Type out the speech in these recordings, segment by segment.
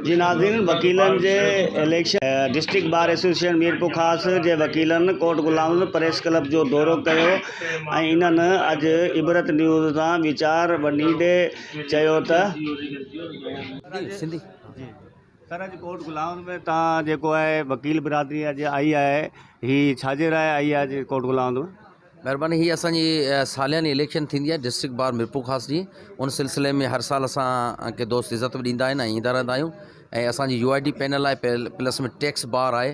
جي ناظرين وڪيلن جي election district bar association Mirpur Khas جي وڪيلن ڪوٽ غلام پريس ڪلب جو دورو ڪيو ۽ انهن اڄ عبرت نيوز سان ويچار ونڊيندي چيو ته سر اڄ ڪورٽ گلائون ۾ تان جيڪو آهي وڪيل برادري اڄ آئي آهي هي ڇاجي لاء آئي آهي اڄ ڪورٽ گلائون ۾؟ مهرباني هي اسان جي سالياني اليڪشن ٿيندي آهي ڊسٽرڪٽ بار ميرپورخاص جي ان سلسلي ۾ هر سال اسان کي دوست عزت به ڏيندا آهن ۽ ايندا رهندا آهيون ۽ اسان جي يو آئي ڊي پينل آهي پلس ۾ ٽيڪس بار آهي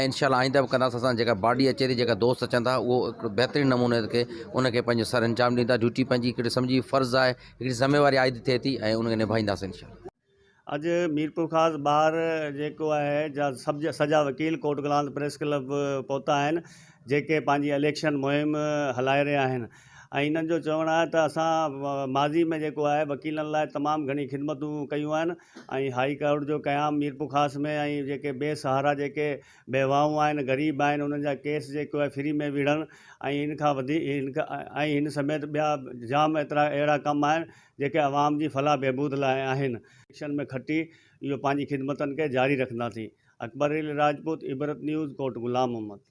۽ انشاء الله آئنده به ڪنداسين اسان جيڪا باڊي اچي ٿي جيڪا دوست اچن ٿا اهو هڪ بهترين نموني کي ان کي پنهنجو سر انجام ڏيندا ڊيوٽي پنهنجي هڪڙي سمجهي فرض آهي هڪڙي ذميواري عائد ٿئي ٿي ۽ ان کي نڀائينداسين انشاء الله اڄ ميرپورخاص ٻاهر جيڪو آهي جا سڀ سڄا وڪيل ڪوٽ گلانت پريس ڪلب پهتا آهن جيڪي پنهنجي اليڪشن مهم هلائي رهيا آهن ۽ انهن جو چوڻ آهي ته اسان ماضي ۾ جيڪو آهي وڪيلن لاء تمام گهڻي خدمتون ڪيون آهن ۽ هائي ڪورٽ جو قيام ميرپورخاص ۾ ۽ جيڪي بي سهارا جيڪي بيواهون آهن غريب آهن انهن جا ڪيس جيڪو آهي فري ۾ وڙهڻ ۽ ان کان وڌيڪ ۽ هن سميت ٻيا جام ايترا اهڙا ڪم آهن جيڪي عوام جي فلاح بهبود لاء آهن. اليڪشن ۾ کٽي اهو پنهنجي خدمتن کي جاري رکنداسين اڪبر علي راجپوت عبرت نيوز ڪوٽ غلام محمد.